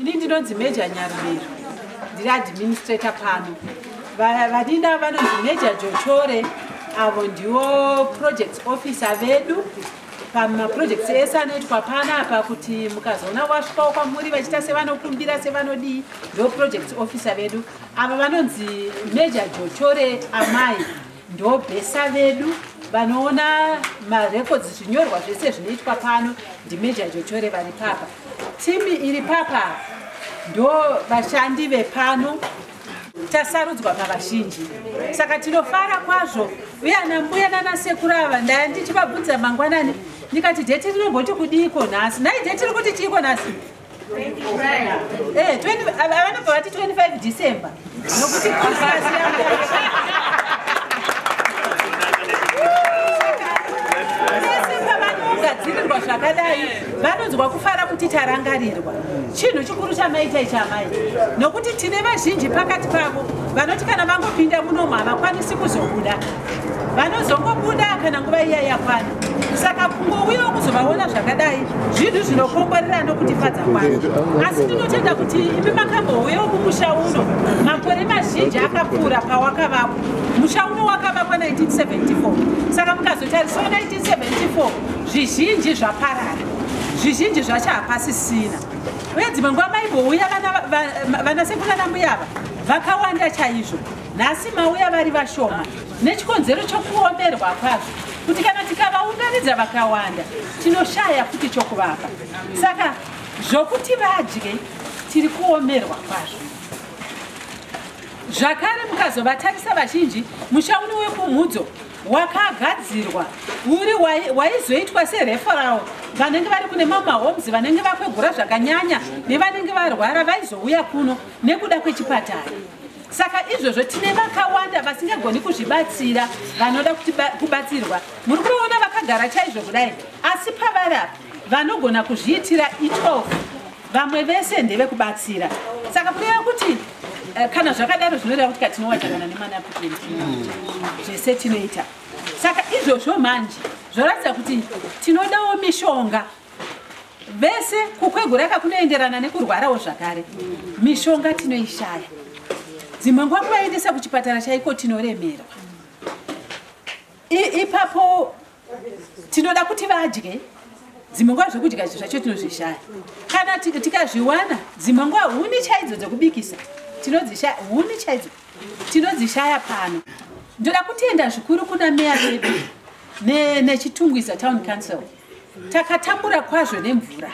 ini ndinonzi major nyarubero ndiri administrator pano vadina vanonzi major jochore avo ndiwo project officer vedu pamaprojects ese anoitwa pana apa kuti mukazoona wasvikawo kwamuri vachiita sevanokumbira sevanodii ndo project officer vedu ava vanonzi major jotore amai ndo bhesa vedu vanoona marecords zvinyorwa zvese zvinoitwa pano ndimajor jotore vari papa timi iri papa ndo vashandi vepano tasarudzwa pavazhinji saka tinofara kwazvo uye ana mbuya nana sekuru ava ndaya ndichivabvunza mangwanani ndikati dheti rinomboti kudiiko nhasi nhai dheti ri kuti chiiko nhasi eh, vanobva vati 25 december nokuti vanonzwa kufara kuti tarangarirwa chinhu chikuru chamaita ichi amai nokuti tine vazhinji pakati pavo vanoti kana vangopinda munomu havakwanisi kuzobuda vanozongobuda kana nguva iya yakwana saka kungouyawo kuzovaona zvakadai zvinhu zvinokomborera nokutifadza kwazvo asi tinotenda kuti imi makambouyawo kumusha uno makore mazhinji akapfuura pawakavapo musha uno wakavakwa 1974 saka mukazotarisao 1974 zvizhinji zvaparara zvizhinji zvacho hapasisina uye dzimwe nguva maimbouya vanasekuru vana mbuya ava vakawanda chaizvo nhasi mauya vari vashoma nechikonzero chokuomerwa kwazvo kuti kana tikavaunganidza vakawanda tinoshaya futi chokuvapa saka zvokuti vadye tiri kuomerwa kwazvo zvakare mukazovatarisa vazhinji mushauri wekumhudzo wakagadzirwa uri waizoitwa sereferal vanenge vari kune mamwe mahomes vanenge vakwegura zvakanyanya nevanenge varwara vaizouya kuno nekuda kwechipatara saka izvozvo tine vakawanda vasingagoni kuzvibatsira vanoda kubatsirwa muri kuona vakagara chaizvo kudai asi pavari apa vanogona kuzviitira 12 vamwe vese ndevekubatsira saka kureva kuti eh, kana zvakadaro zvinoreva kuti katinowadzakana nemanaputin zvese tinoita saka izvozvo manje zvoratidza kuti tinodawo mishonga vese kukwegura ka kunoenderana nekurwarawo zvakare mishonga tinoishaya dzimwe nguva kuvaendesa kuchipatara chaiko tinoremerwa ipapo tinoda kuti vadye dzimwe nguva zvekudya izvi zvacho tinozvishaya kana tikazviwana dzimwe nguva huni chaidzo dzekubikisa tinodzishaya huni chaidzo tinodzishaya pano ndoda kutenda zvikuru kuna meya vedu nechitungwiza town council takatambura kwazvo nemvura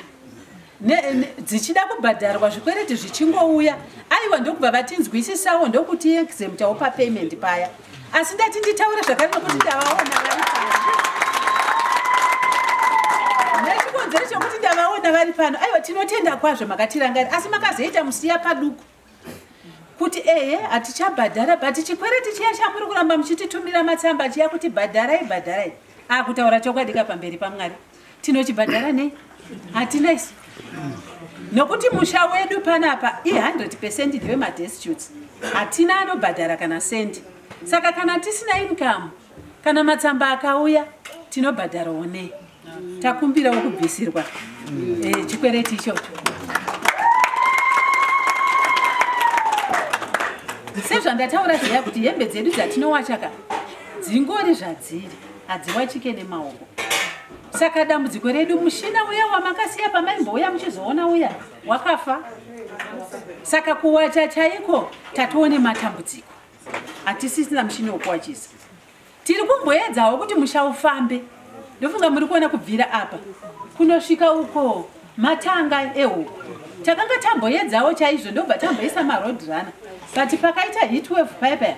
dzichida kubhadharwa zvikwereti zvichingouya aiwa ndokubva vatinzwisisawo ndokuti exemptawo papayment paya asi ndati nditaure zvakare nokuti ndavaona vari nechikonzero chokuti ndavaona vari pano aiwa tinotenda kwazvo makatirangari asi makazoita musiya paduku kuti ehe hatichabhadhara but chikwereti chiya chamuri kuramba muchititumira matsamba chiya kuti bhadharai bhadharai akutaura ah, chokwadi ka pamberi pamwari tinochibhadhara nei hatina isu nokuti musha wedu panapa i100 pecent ndewemadestutes hatina anobhadhara kana sendi saka kana tisina inkamu kana matsamba akauya tinobhadharawo nei takumbirawo kubvisirwa eh, chikwereti ichocho sezvandataura zviya kuti hembe dzedu dzatinowachaka dzingori zvadziri hadziwachike nemaoko saka dambudziko redu mushina uya wamakasiya pamaimbouya muchizoona uya wakafa saka kuwacha chaiko tatoone matambudziko hatisisina mushini wokuwachisa tiri kumboedzawo kuti musha ufambe ndofunga muri kuona kubvira apa kunosvika uko matanga ehuku takanga tamboedzawo chaizvo ndobva tamboisa maroad runner but pakaita hit wave paya paya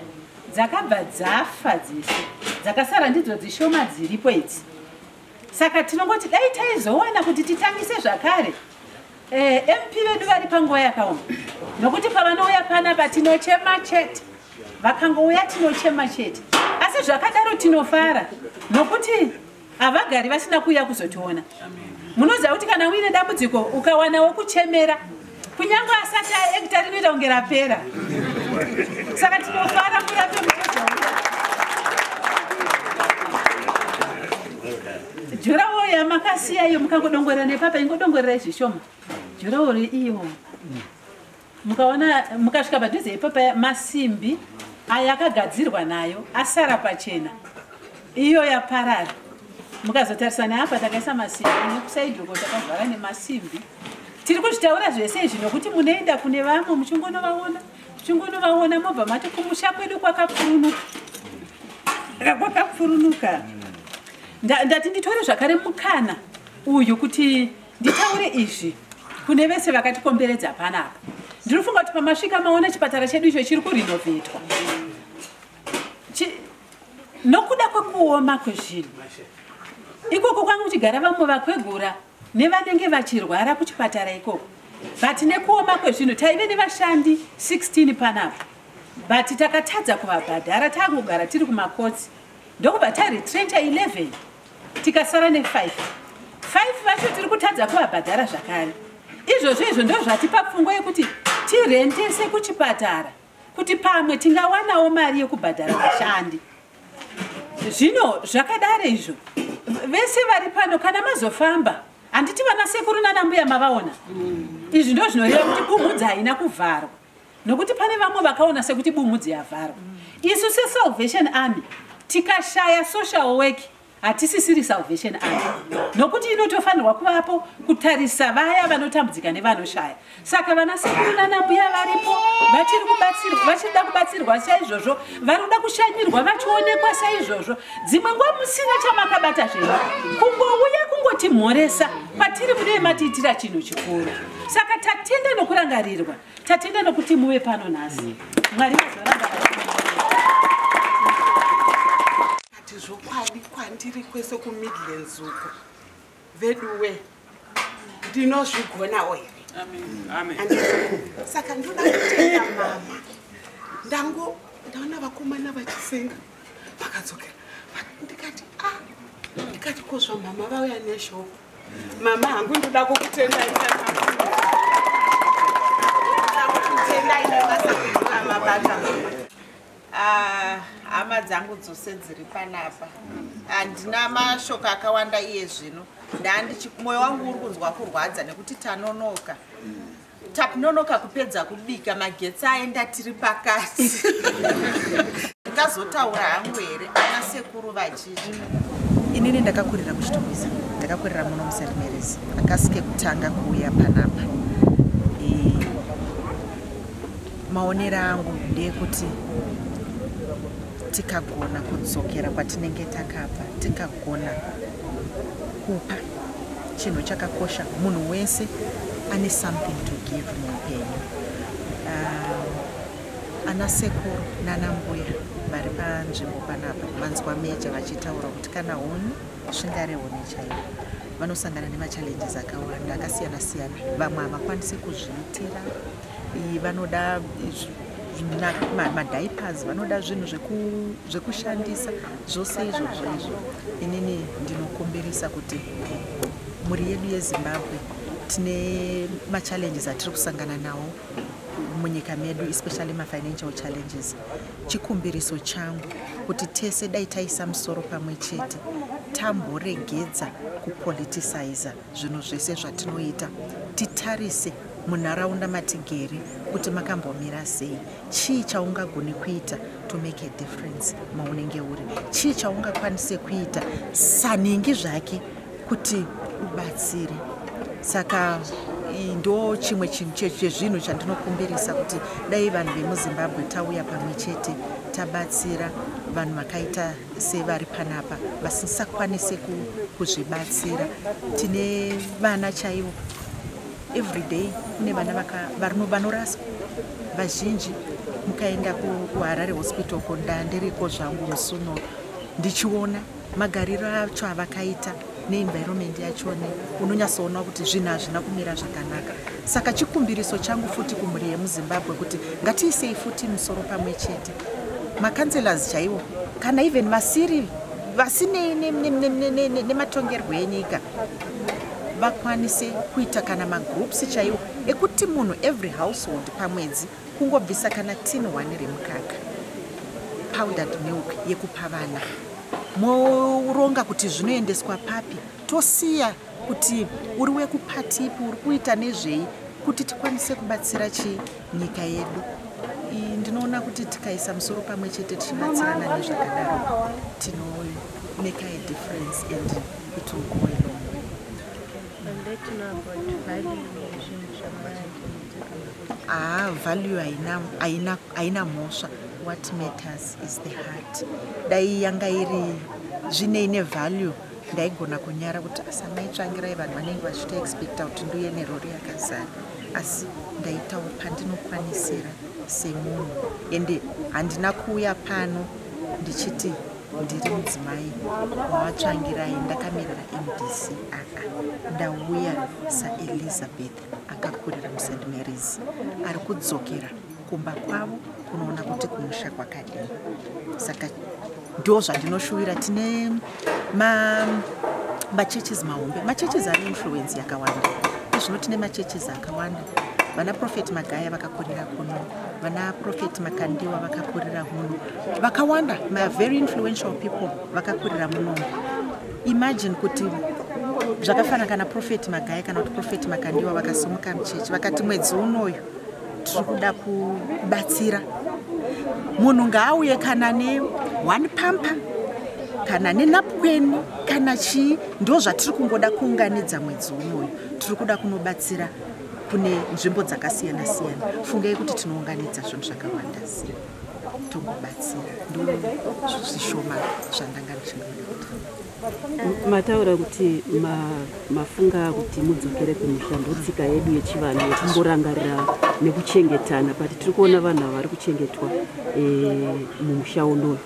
dzakabva dzafa dzese dzakasara ndidzo dzishoma dziripo idzi saka tinongoti dai taizowana kuti titangise zvakare Eh, MP vedu vari panguva yakaoma nokuti pavanouya panapa tinochema chete vakangouya tinochema chete asi zvakadaro tinofara nokuti havagari vasina kuuya kuzotiona munoziva kuti kana uine dambudziko ukawana wokuchemera kunyange asati aekta rinoita kunge rapera saka tinofara murape muchezvauya Jurawo yamakasiya iyo mukangodongorera nepapa ingodongorerai zvishoma. Jurawo iyo mukaona mukasvika padhuze ipapa masimbi aya akagadzirwa nayo asara pachena iyo yaparara mukazotarisa neapa takaisa masimbi nekusaidoko takavhara nemasimbi tiri kuzvitaura zvese izvi nokuti munoenda kune vamwe muchingonovaona muchingonovaona mobva mati kumusha kwedu kwakapfurunuka kwakapfurunuka ndati nditore zvakare mukana uyu kuti nditaure izvi kune vese vakatikomberedza panapa ndinofunga kuti pamasvika maona chipatara chedu icho chiri kurinovhetwa nokuda kwekuoma kwezvinhu ikoko kwanga kuchigara vamwe vakwegura nevanenge vachirwara kuchipatara ikoko but nekuoma kwezvinhu taive nevashandi 16 panapa but takatadza kuvabhadhara takugara tiri kumakotsi ndokubva taretrencha 11 tikasara ne5 5 vacho tiri kutadza kuvabhadhara zvakare izvozvo izvo ndozvatipa pfungwa yekuti tirentese kuchipatara kuti pamwe tingawanawo mari yekubhadhara vashandi zvino zvakadaro izvo vese vari pano kana mazofamba handiti vana sekuru nanambuya mavaona izvi ndo zvinoreva kuti bumhudza haina kuvharwa nokuti pane vamwe vakaona sekuti bumhudzi yavharwa isu sesalvation army tikashaya social work hatisisiri salvation army nokuti inotofanirwa kuvapo kutarisa vaya vanotambudzika nevanoshaya saka vana sekuru nanambuya varipo vachiri kubatsirwa vachiri da kubatsirwa saizvozvo vari kuda kushanyirwa vachionekwa saizvozvo dzimwe nguva musina chamakabata zvenyu kungouya kungotimhoresa patiri mune matiitira chinhu chikuru saka tatenda nokurangarirwa tatenda nokuti muve pano nhasi mwari vazoramba ati zvokwadi kwandiri kwese kumidlands uko veduwe ndinozvigonawo here saka ndoda kutenda mama ndango ndaona vakomana vachisenga vakadzokera ndikati a ah, ndikati kozvamama vauya neshoko mama hangu ndoda kukutendai ah, hama dzangu dzose dziri panapa handina mashoko akawanda iye zvino ndandichi mwoyo wangu uri kunzwa kurwadza nekuti tanonoka takunonoka kupedza kubika magetsi aenda tiri pakati ndikazotaura hangu here ana sekuru vachizvi inini ndakakurira kuchitomisa ndakakurira muno musermeresi akasi kekutanga kuuya panapa maonero angu ndeekuti tikagona kudzokera kwatinenge takabva tikagona kupa chinhu chakakosha munhu wese ane something to give muupenyu uh, ana sekuru nana mbuya vari panzvimbo panapa vanzwa meja vachitaura kuti kana huni zvingare huni chaivo vanosangana nemachallenges akawanda akasiyana siyana vamwe havakwanisi kuzviitira vanoda madiapers vanoda zvinhu zvekushandisa zvose izvozvo izvo inini ndinokumbirisa kuti mhuri yedu yezimbabwe tine machallenges atiri kusangana nawo munyika medu especially mafinancial challenges chikumbiriso changu kuti tese dai taisa musoro pamwe chete tamboregedza kupoliticizer zvinhu zvese zvatinoita titarise munharaunda matigere kuti makambomira sei chii chaungagoni kuita to make a difference maunenge uri chii chaungakwanise kuita sanhingi zvake kuti ubatsire saka ndo chimwe chinhu chezvinhu chandinokumbirisa kuti dai vanhu vemuzimbabwe tauya pamwe chete tabatsira vanhu vakaita sevari panapa vasisakwanise kuzvibatsira tine vana chaivo everyday kune vana vanoraswa vazhinji mukaenda kuharare hospital ko ndandiriko zvangu musuno ndichiona magariro acho avakaita neenvironment yachone unonyatsoona kuti zvinhu hazvina kumira zvakanaka saka chikumbiriso changu futi kumhuri yemuzimbabwe kuti ngatiisei futi musoro pamwe chete macancelors chaiwo kana even vasiri vasinei nematongerwo enyika vakwanise kuita kana magroups chaiwo ekuti munhu every household pamwedzi kungobvisa kana tin one remukaka powdered milk yekupa vana moronga kuti zvinoendeswa papi tosiya kuti uri wekupatipi uri kuita nezvei kuti tikwanise kubatsira chi nyika yedu ndinoona kuti tikaisa musoro pamwe chete tichibatsirana nezvakadaro tinomeka a difference and it will go along Ah, value haina haina haina mhosva. What matters is the heart. Dai yanga iri zvine ine value ndaigona kunyara kuti asamai tsvangirai vanhu vanenge vachito expecta kuti nduye nerori yakazara asi ndaitawo pandinokwanisira semunhu ende handina kuuya pano ndichiti ndiri mudzimai wawatsvangirai ndakamirira mdc aa ndauya saelizabeth akakurira muSt Mary's ari kudzokera kumba kwavo kunoona kuti kumusha kwakadii saka ndo zvandinoshuvira tine machurches mahombe machurches ane influence yakawanda izvino tine machurches akawanda vana profet magaya vakakurira kuno vana profet makandiwa vakakurira muno vakawanda ma very influential people vakakurira munomu imagine kuti zvakafanana kana profeti magaya kana kuti profeti makandiwa vakasumuka muchechi vakati mwedzi unoyu tiri kuda kubatsira munhu ngaauye kana ne one pampa kana nenapukweni kana chii ndo zvatiri kungoda kuunganidza mwedzi unoyu tiri kuda kunobatsira kune nzvimbo dzakasiyana siyana fungei kuti tinounganidza zvinhu zvakawanda sei tokubatsira ndozvishoma zvandanga ndichimataura kuti mafunga kuti mudzokere kumusha ndotsika yedu yechivanhu yekumborangarira nekuchengetana but tiri kuona vanhu ava vari kuchengetwa eh, mumusha unoyu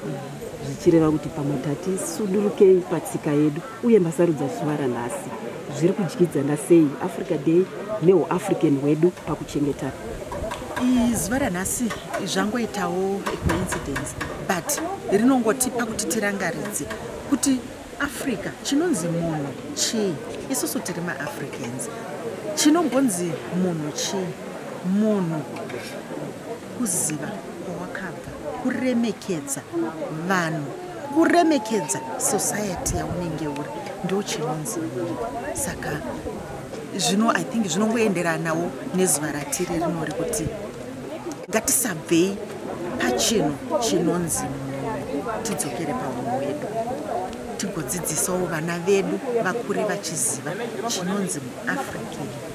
zvichireva kuti pamwe tati sudurukei patsika yedu uye masarudza zuva ranhasi zviri kudyidzana sei africa day neuafrican hwedu pakuchengeta zuva ranhasi zvangoitawo coincidence but rinongotipa kuti tirangaridze kuti africa chinonzi munhu chii isusu tiri maafricans chinombonzi munhu chii munhu kuziva kwawakabva kuremekedza vanhu kuremekedza society yaunenge uri ndo chinonzi saka zvino i think zvinongoenderanawo nezuva ratiri rino rekuti ngatisabvei pachinhu chinonzi tidzokere paunhu wedu tigodzidzisawo vana vedu vakure vachiziva chinonzi muafrica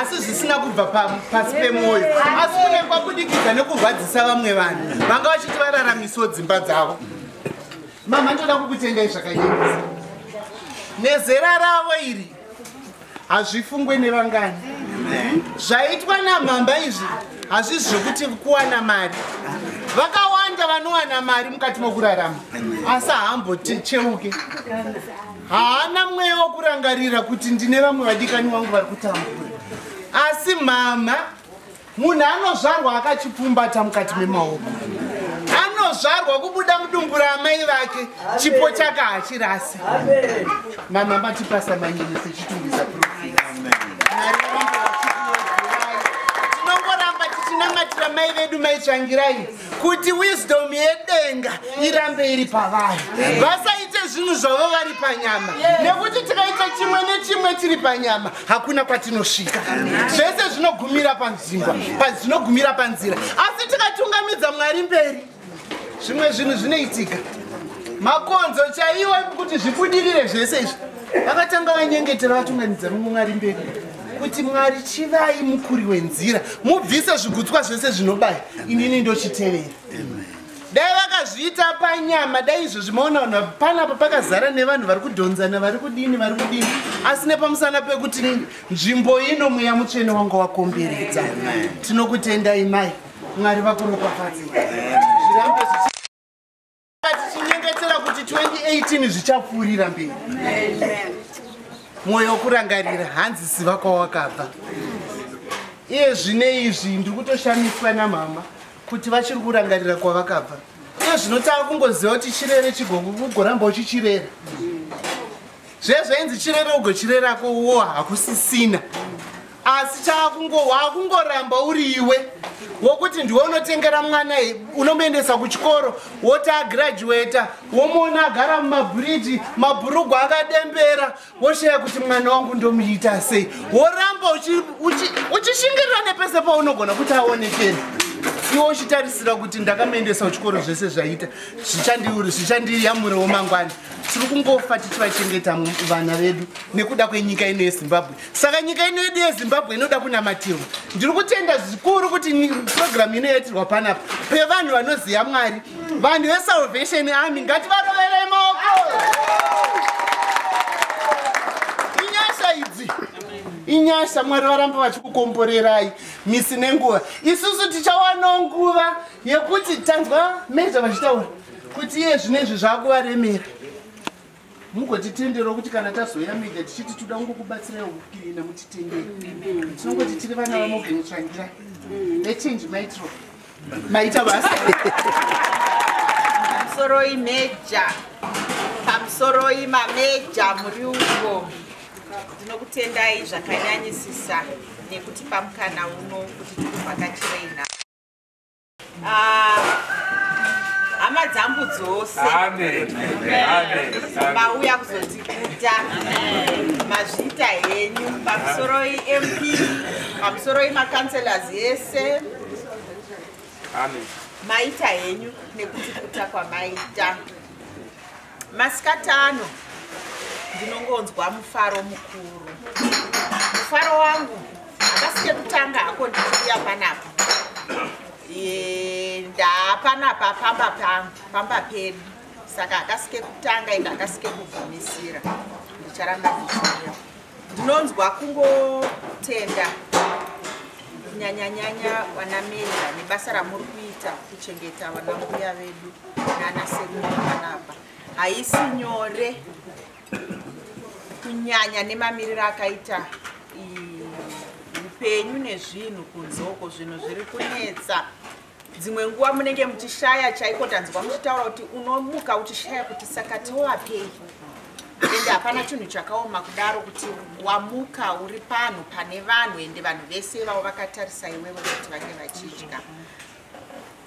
asi zvisina kubva pasi pemwoyo asi kune kwabudikidza nekurwadzisa vamwe vanhu vanga vachiti vararamisawo dzimba dzavo mama ndoda kukutendai zvakanyanyisa nezera ravo iri hazvifungwe nevangani zvaitwa namhamba izvi hazvisi zvekuti kuwana mari vakawanda vanowana mari mukati mokurarama asi haambocheuke haana mweya wokurangarira kuti ndine vamwe vadikani wangu vari kutambura asi mhamha munhu anozvarwa akachipfumbata mukati memaoko anozvarwa kubuda mudumbu raamai vake chipo chake hachirasi mama matipasa manyenese chitungisa tinongoramba tichinamatira mai vedu maitsvangirai kuti wisdom yedenga irambe iri pavari vasaite zvinhu zvavo vari panyama nekuti tikaita chimwe nechimwe tiri panyama hakuna kwatinosvika zvese zvinogumira panzvimba zvinogumira panzira asi tikatungamidza mwari mberi zvimwe zvinhu zvinoitika makonzo chaiwo kuti zvibudirire zvese izvi vakatanga vanyengetera vatungamidza mumwe mwari mberi kuti mwari chivai mukuri wenzira mubvise zvigutswa zvese zvinobaya inini ndochitevera dai vakazviita panyama dai izvozvi maona vanhu panapa pakazara nevanhu vari kudhonzana vari kudini vari kudini asi nepamusana pekuti nzvimbo ino mweya mutsvene wanga wakomberedza tinokutendai mai mwari vakuropafadzei zvirambe zvichi tichinyengetera kuti 2018 zvichapfuurira mberi mwoyo wokurangarira hanzi ziva kwawakabva iye zvine izvi ndiri kutoshamiswa namama kuti vachiri kurangarira kwavakabva iye zvinotanga kungoziva kuti chirere chigogo kugoramba uchichirera zvezvainzi chirere ugochirerako wo hakusisina asi chaakungo waakungoramba uri iwe wokuti ndiwe unotengera mwana unomuendesa kuchikoro woti agraduata womuona agara mumabhuriji mabhurugu akadembera woshaya kuti mwana wangu ndomuita sei woramba uchishingirira nepese paunogona kuti aonekere iwe uchitarisira kuti ndakamuendesa kuchikoro zvese zvaita zvichandiyamuriwo mangwani tiri kungofa tichivachengeta vana vedu nekuda kwenyika ino yezimbabwe saka nyika ino yedu yezimbabwe inoda kunamatirwa ndiri kutenda zvikuru kuti purogiramu ino yaitirwa panapa pevanhu vanoziva mwari vanhu vesalvation army ngativaroverei maoko inyasha idzi inyasha mwari varamba vachikukomborerai misi nenguva isusu tichawana nguva yekuti tanzwa meza vachitaura kuti iye zvino izvi zvakuvaremera mugotitenderawo kuti kana tazoya media tichiti toda kungokubatsirai ukukirina mutitendere tinongoti tiri vana vamogeni tsvangira vechange maitro maita basa pamusoroi meja pamusoroi mameja muri uko ndinokutendai zvakanyanyisisa nekutipa mukana uno kuti tikuvhakachirei nhao Ah, hama dzangu dzose mauya kuzotikuta mazvita henyu pamusoro imp pamusoro imacounselors ese maita henyu nekutikuta kwamaita Masikati ano ndinongonzwa mufaro mukuru. Mufaro wangu akasike kutanga hako ndichiuya panapa. Ndapanapa pamba pangu, pamba pedu. Saka akasike kutanga ende akasike kugumisira. Ndicharamba ndichiuya. ndinonzwa kungotenda kunyanyanyanya vanameja nebasa ramuri kuita kuchengeta vanambuya vedu nana sekuru vanapa haisi nyore kunyanya nemamiriro akaita upenyu nezvinhu kunzoko zvinhu zviri kunetsa dzimwe nguva munenge muchishaya chaiko tanzwa muchitaura kuti unomuka uchishaya kuti saka tiwapei ende hapana chinhu chakaoma kudaro kuti wamuka uri panhu pane vanhu ende vanhu vese vavo vakatarisa iwewe kuti vange vachidya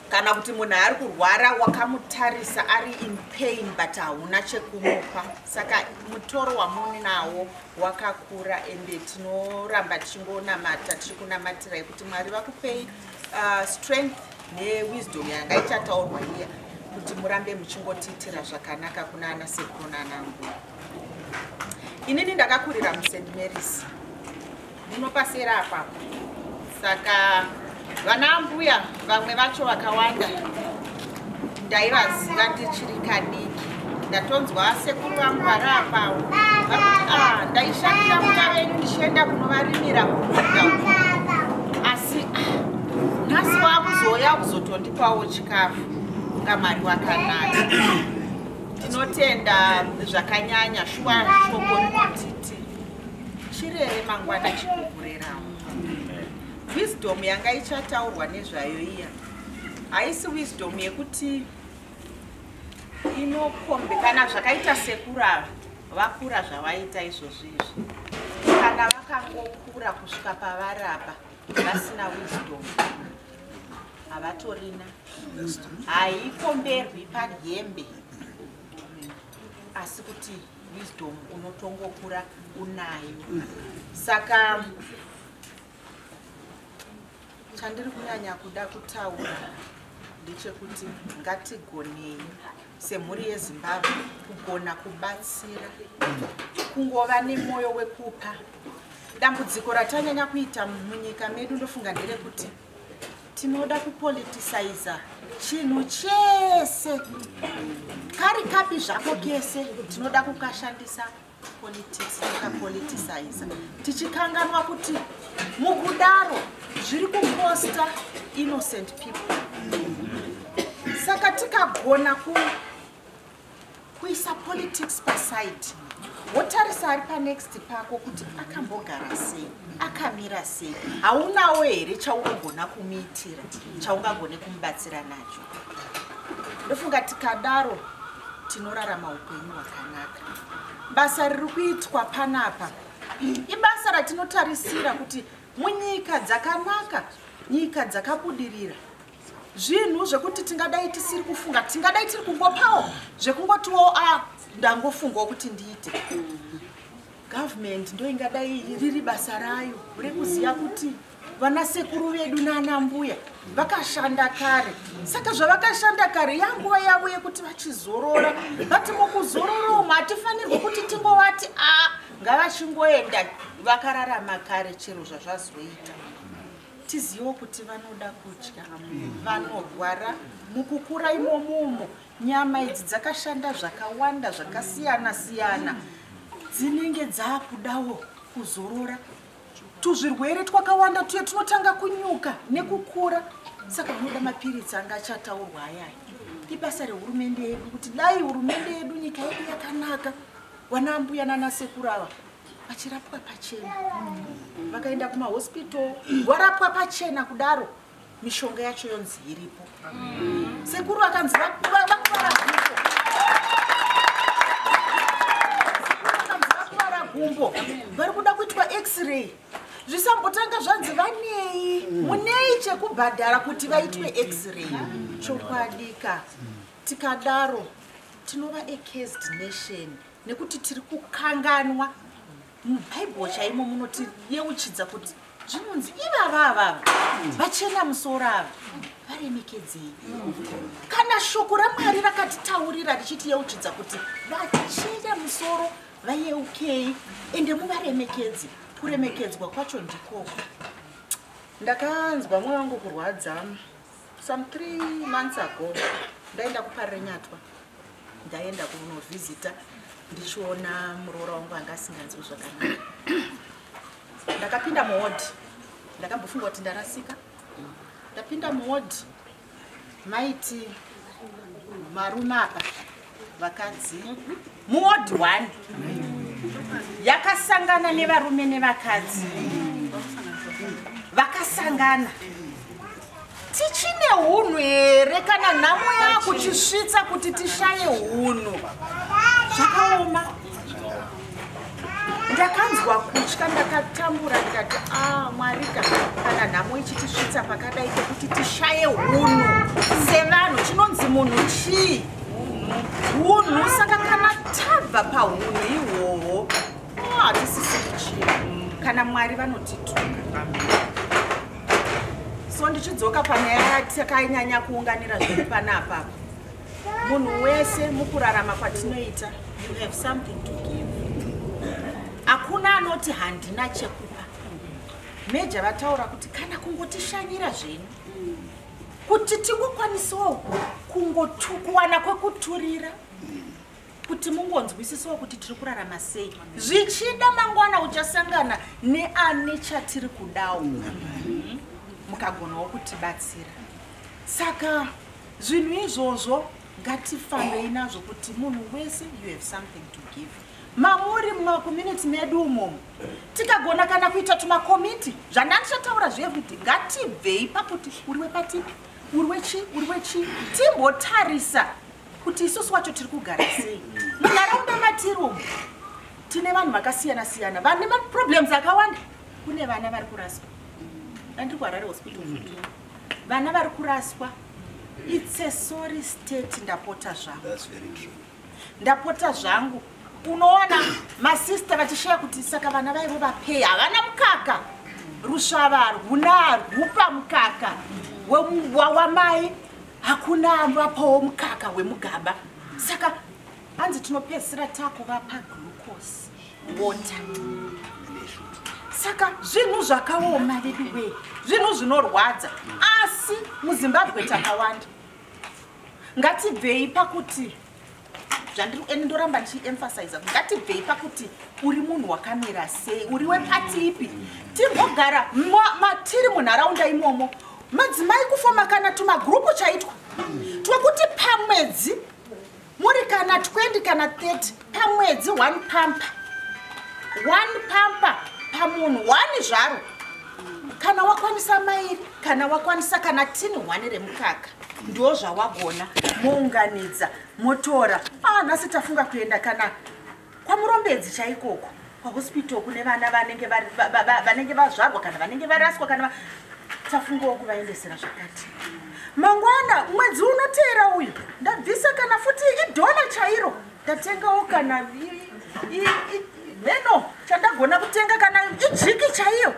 kana kuti munhu ari kurwara wakamutarisa ari in pain but hauna chekumupa saka mutoro wamuni nawo wakakura ende tinoramba tichingonamata tichikunamatirai kuti mwari vakupei uh, strength newisdom yanga ichataurwa iya kuti murambe muchingotiitira zvakanaka kuna ana sekuru nanangu inini ndakakurira must marys ndinopasera apapo saka vana mbuya vamwe vacho vakawanda ndaivaziva ndichiri kadiki ndatonzwa sekuru vangu vari apawo ah, ndaishandira muya venyu ndichienda kunovarimira kuda asi ah, nhasi waakuzouya kuzotondipawo chikafu kunga mari wakanaka tinotenda zvakanyanya shuwa shoko rinotiti chirere mangwana chikugurerawo wisdom yanga ichataurwa nezvayo iya haisi wisdom yekuti inokombe kana zvakaita sekura vakura zvavaita izvozvo izvi kana vakangokura kusvika pavarapa vasina wisdom havatorina haikomberwi pahembe asi kuti wisdom unotongokura unayo saka Chandiri kunyanya kuda kutaura ndechekuti ngatigonei semhuri yezimbabwe kugona kubatsira kungova nemwoyo wekupa dambudziko ratanyanya kuita munyika medu ndofunga nderekuti tinoda kupoliticiza chinhu chese kari kapi zvako kese tinoda kukashandisa politics takapoliticize tichikanganwa kuti mukudaro zviri kukosta innocent people saka tikagona ku kuisa politics paside wotarisa ari panext pako kuti akambogara sei akamira sei haunawo here chaunogona kumuitira chaungagone kumubatsira nacho ndofunga tikadaro tinorarama upenyu hwakanaka basa riri kuitwa panapa ibasa ratinotarisira kuti munyika dzakanaka nyika dzakabudirira zvinhu zvekuti tingadai tisiri kufunga tingadai tiri kungopawo zvekungotiwo a ah, ndangofungawo kuti ndiite government ndoingadai riri basa rayo rekuziva kuti vana sekuru vedu nana mbuya vakashanda kare saka zvavakashanda kare yanguva yavo yekuti vachizorora vati mukuzorora umu hatifanirwi kuti tingovati a ah, ngavachingoenda vakararama kare chero zvazvazoita tizivo kuti vanoda kudya vanorwara mukukura imomumo nyama idzi dzakashanda zvakawanda zvakasiyana siyana dzinenge dzaakudawo kuzorora tuzvirwere twakawanda tuye tunotanga kunyuka nekukura saka unoda mapiritsi anga achataurwa ayaya ibasa rehurumende yedu kuti dai hurumende yedu nyika yedu yakanaka wana ambuya nanasekuru ava vachirapwa pachena vakaenda kumahospital warapwa pachena kudaro mishonga yacho yonzi iripo sekuru akanzi vakuvara gumbo vari kuda kuitwa x-ray zvisambotanga zvanzi vanei mm. munei chekubhadhara kuti vaitwe x-ray mm. chokwadika tikadaro tinova acased nation nekuti tiri kukanganwa mubhaibheri chaimo munotiyeuchidza kuti zvinonzi ivava avava vachena musoro ava varemekedzei kana shoko ramwari rakatitaurira richitiyeuchidza kuti vachena musoro vayeukei ende muvaremekedzi kuremekedzwa kwacho ndikoko ndakanzwa mwoyo wangu kurwadza some three months ago ndaenda kuparenyatwa ndaenda kunovhizita ndichiona muroora wangu anga asinganzwi zvakanaka ndakapinda muwodhi ndakambofunga kuti ndarasika ndapinda muwodhi maiti marume apa vakadzi mm -hmm. muward one yakasangana nevarume nevakadzi vakasangana tichine unhu here kana nhamo yakutisvitsa kuti tishaye unhu zvakaoma ndakanzwa kutya ndakatambura ndikati a ah, mwarika kana nhamo ichitisvitsa pakadai kekuti tishaye hunhu sevanhu chinonzi munhu chii hunhu saka kana tabva pahunhu ihwohwo ah, hatisisi kuchii kana mwari vanotituka so ndichidzoka panyaya yatakanyanya kuunganira zviri panapapa munhu wese mukurarama kwatinoita you have something to give hakuna anoti handina chekupa meja vataura kuti kana kungotishanyira zvenyu kuti tingokwanisawo kungokuwana kwekuturira kuti mungonzwisisawo kuti tiri kurarama sei zvichida mangwana uchasangana neane chatiri kudawo mukagonawo kutibatsira saka zvinhu izvozvo ngatifambei nazvo kuti munhu wese you have something to give mamuri mumakomunity medu umomo tikagona kana kuita tumakomiti zvandandichataura zveeveryday ngatibvei pakuti uri wepatipi uri wechi uri wechi timbotarisa kuti isusu wacho tiri kugara sei munharaunda matiri umo tine vanhu vakasiyana siyana vane maproblems akawanda kune vana vari kuraswa andiri kuharare hospital mm -hmm. vana vari kuraswa it's a sorry state ndapota zvangu ndapota zvangu unoona masista vachishaya kuti saka vana vaivo vapei havana mukaka rusvava harwuna harwupa mukaka wamai hakuna ambapawo mukaka wemugaba saka hanzi tinopedzisira takuvapa glucose water saka zvinhu zvakaoma veduwee zvinhu zvinorwadza asi muzimbabwe takawanda ngatibvei pakuti zvandiri ende ndoramba ndichiemphasiza kuti ngatibvei pakuti uri munhu wakamira sei uri wepati ipi timbogara matiri munharaunda imomo madzimai kufoma kana tumagrupu chaitwa twekuti pamwedzi muri kana 20 kana 30 pamwedzi one pampa one pampa pamunhu one zvaro kana wakwanisa mairi kana wakwanisa kana tini hwani remukaka ndo zvawagona mounganidza motora ah, nhasi tafunga kuenda kana kwamurombedzi chaikoko kwahospital kune vana vanenge vanenge vazvarwa kana vanenge varaswa kana tafungawo kuvaendesera zvakati mangwana mwedzi unoteera uyu ndabvisa kana futi idhona chairo ndatengawo kana meno chandagona kutenga kana ijiki chaiyo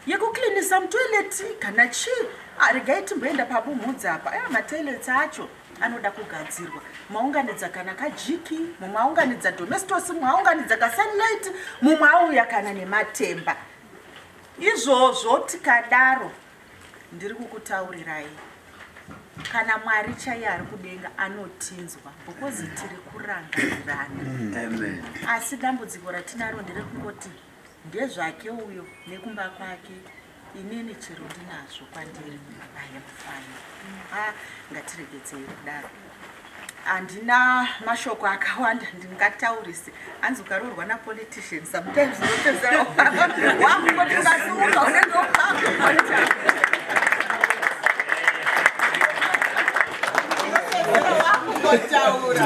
yekuklinisa mutoileti kana chii ah, regai timboenda pabumhudza apa aya matoileti acho anoda kugadzirwa maunganidza kana kajiki mumwe aunganidza domestos mumwe aunganidza kasunlight mumwe auya kana nematemba izvozvo tikadaro ndiri kukutaurirai kana mwari chaiye ari kudenga anotinzwa bhokozi tiri kurangarirana asi dambudziko ratinaro nderekungoti Ndezvake uyo nekumba kwake inini chero ndinazvo kwandiri I am fine. Ah, ngatiregedzei kudaro. Handina mashoko akawanda ndingataurise. Hanzi ukaroorwa na politician sometimes unotezera wakungoti ukasiuka unenge wakungotaura.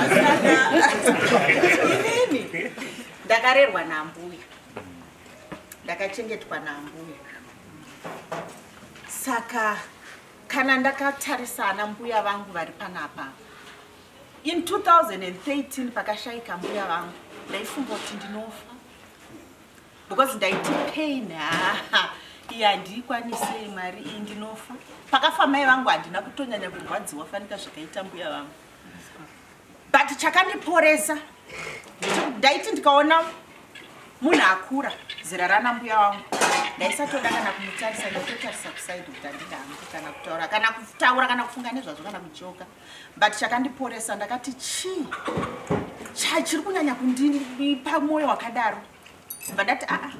Inini ndakarerwa naambuya ndakachengetwa naambuya saka kana ndakatarisa ana mbuya vangu vari panapa in 2013 pakashaika mbuya vangu ndaifunga kuti ndinofa because ndaiti pain haa iyi handiikwanisei mari iyi ndinofa pakafa mai vangu handina kutonyanya kurwadziwa fanika zvakaita mbuya vangu but chakandiporesa ndaiti ndikaona munhu akura zera rana mbuya wangu ndaisatoda kana kumutarisa ndaitotarisa kusaidi kuti andida hangu kana kutaura kana kutaura kana kufunga nezvazvo kana kujoka but chakandiporesa ndakati chii chachiri kunyanya kundipa mwoyo wakadaro bva ndati aa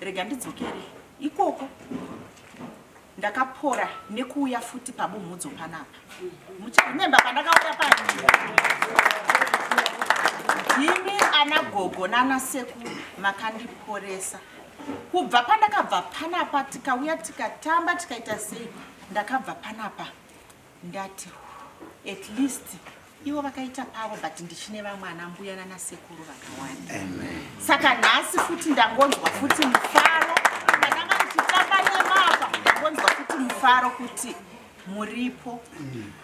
rega ndidzokere ikoko ndakapora nekuuya futi pabumhudzo panapa muchaimemba pandakauya pa imi ana gogo nana seku makandiporesa kubva pandakabva panapa tikauya tikatamba tikaita sei ndakabva panapa ndati at least ivo vakaita pavo but ndichine vamwe ana mbuya nana sekuru vakawanda saka nhasi futi ndangonzwa futi mufaro ndakanga ndichitamba nemapa ndangonzwa futi mufaro kuti muripo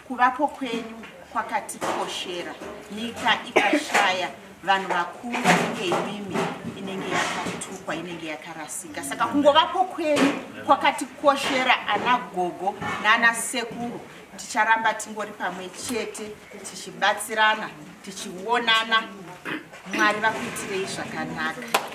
kuvapo kwenyu kwakatikoshera nyika ikashaya vanhu vakuru vanenge imimi inenge yakatukwa inenge yakarasika saka kungovapo kwenyu kwakatikoshera ana gogo naana sekuru ticharamba tingori pamwe chete tichibatsirana tichionana mwari vakuitirei zvakanaka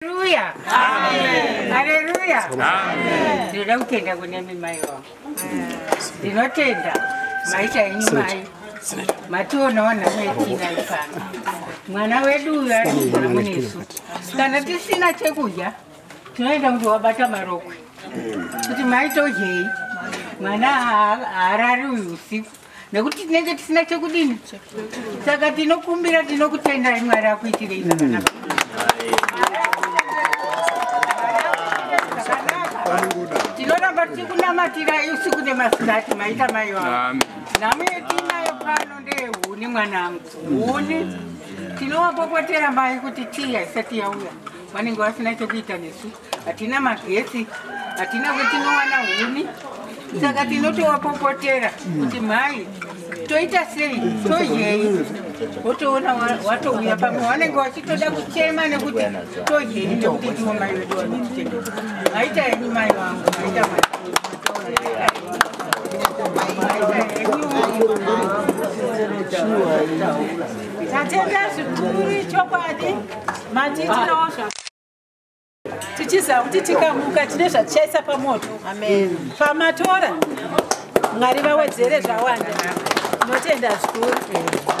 Haleluya. Amen. Haleluya. Amen. Ndinoda kutenda kune mimai wangu. Ndinotenda maita henyu mai. Mationawo nhamo yetiina ipano. Mwana wedu uyu ari kugara munesu. Kana tisina chekudya tinoenda kuti wabata marokwe. Kuti maitodyei. Mwana haa- haarari uyu usiku. nekuti tinenge tisina chekudini saka tinokumbira tinokutendai mwari akuitirei zvakanaka tinoramba tichikunamatirai usiku nemasikati maita mai vavo nhamo yetiinayo pano ndeyehuni mwanangu huni tinowapopotera mai kuti tii haisati yauya vanenge vasina chekuita nesu hatina magetsi hatina kwetinowana huni saka tinotowapopotera kuti mhai toita sei todyei wotoona watouya pamwe vanenge vachitoda kuchema nekuti todyei nekuti ndiwo mai vedu vanotichengeta maita henyu mai vangu maita mai tatenda zvikuru chokwadi matitinowo zva tichiziva kuti tikamuka tine zvatichaisa pamoto pamatora mwari vawedzere zvawanda tinotenda zvikuru